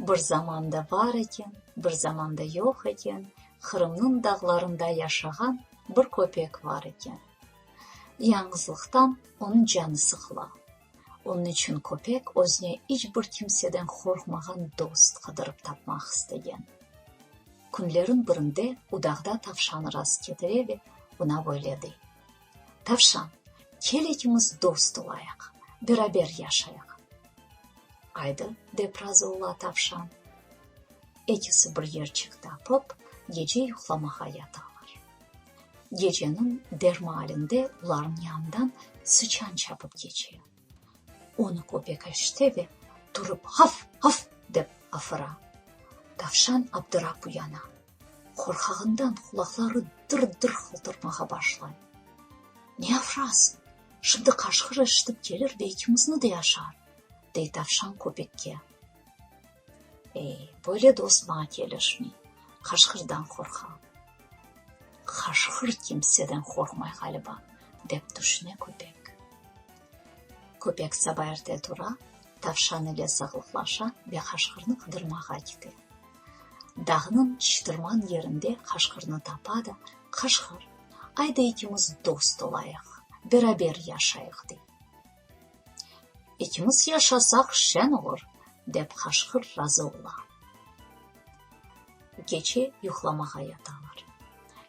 Bir zamanda bar eken, bir zamanda yoq eken, Qırımnıñ dağlarında yaşağan bir köpek bar eken. Yañğızlıqtan onıñ canı sıqıla. Onıñ içün köpek özüne iç bir kimseden qorqmağan dost qıdırıp tapmaq istegen. Künlerin birinde u dağda tavşanı rast ketire ve ona böyle dey: Tavşan, Kel ikimiz dost olayıq, beraber yaşayıq. Aydı, dep razı ola tavşan. Ekisi bir yerçik tapıp, gece yuqlamağa yatalar. Geceniñ bir maalinde olarnıñ yanından sıçan çapıp keçe. Onı köpek eşite ve turıp, Haf! Haf! dep afıra. Tavşan abdırap uyana. Qorqağından qulaqları dır-dır qıltırmağa başlay. Ne avrasıñ, şimdi qaşqır eşitip kelir ve ikimizni de yaşar, dey tavşan köpekke. Ey, böyle dost maña kelişmey, qaşqırdan qorqam. Qaşqır kimseden qorqmay ğaliba, dep tüşüne köpek. Köpek saba erte tura, tavşan ile sağlıqlaşa ve qaşqırnı qıdırmağa kite. Dağnıñ çıtırman yerinde qaşqırnı tapa da, Qaşqır, ay da ekimiz dost olayıq, beraber yaşayıq, dey. Ekimiz yaşasaq şen olur, dep qaşqır razı ola. Keçe yuqlamağa yatalar.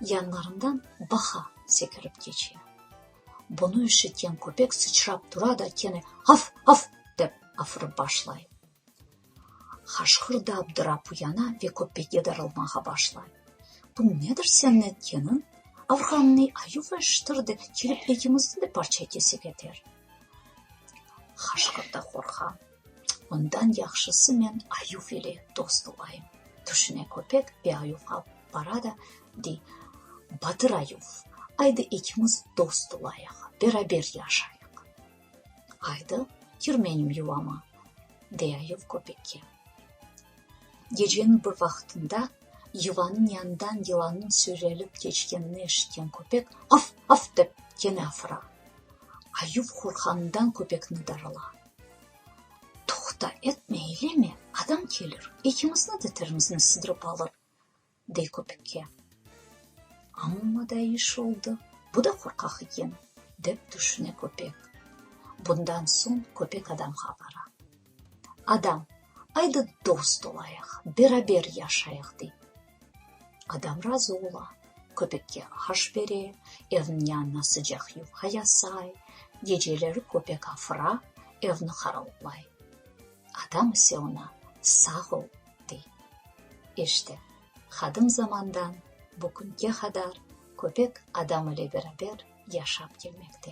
Yanlarından baqa sekirip keçe. Bunı eşitken köpek sıçrap tura da kene, Af, af! dep afırıp başlay. Qaşqırda Abdurap uyana ve köpege darılmağa başlay. Bu nedir senin etkeniñ? Avğannı ayuv eşittirdi, kelip ekimizni de parça kese keter. Qaşqır da qorqa. Ondan yahşısı men ayuv ile dost olayım. Tüşüne köpek ve ayuvğa bara da dey: Batır ayuv, aydı ekimiz dost olayıq, beraber yaşayıq. Aydı, Kir menim yuvama! dey ayıv köpekke. Geceniñ bir vaqtında yuvanıñ yanından yılannıñ sürelip keçkenini eşitken köpek Af! Af! dep kene afıra. Ayıv qorqqanından köpekni darıla. Toqta, etme, eyleme, adam kelir, ekimizni de tirimizne sıdırıp alır! dey köpükke. Amma da iş oldı, bu da qorqaq eken, dep tüşüne köpek. Bundan soñ köpek adamğa bara. Adam, aydı dost olayıq, beraber yaşayıq, dey. Adam razı ola, köpekke aş bere, evniñ yanına sıcaq yufka yasay, geceleri köpek afıra, evni qaraullay. Adam ise oña, sağ ol! dey. İşte, qadim zamandan bu künge qadar köpek adam ile beraber yaşap kelmekte.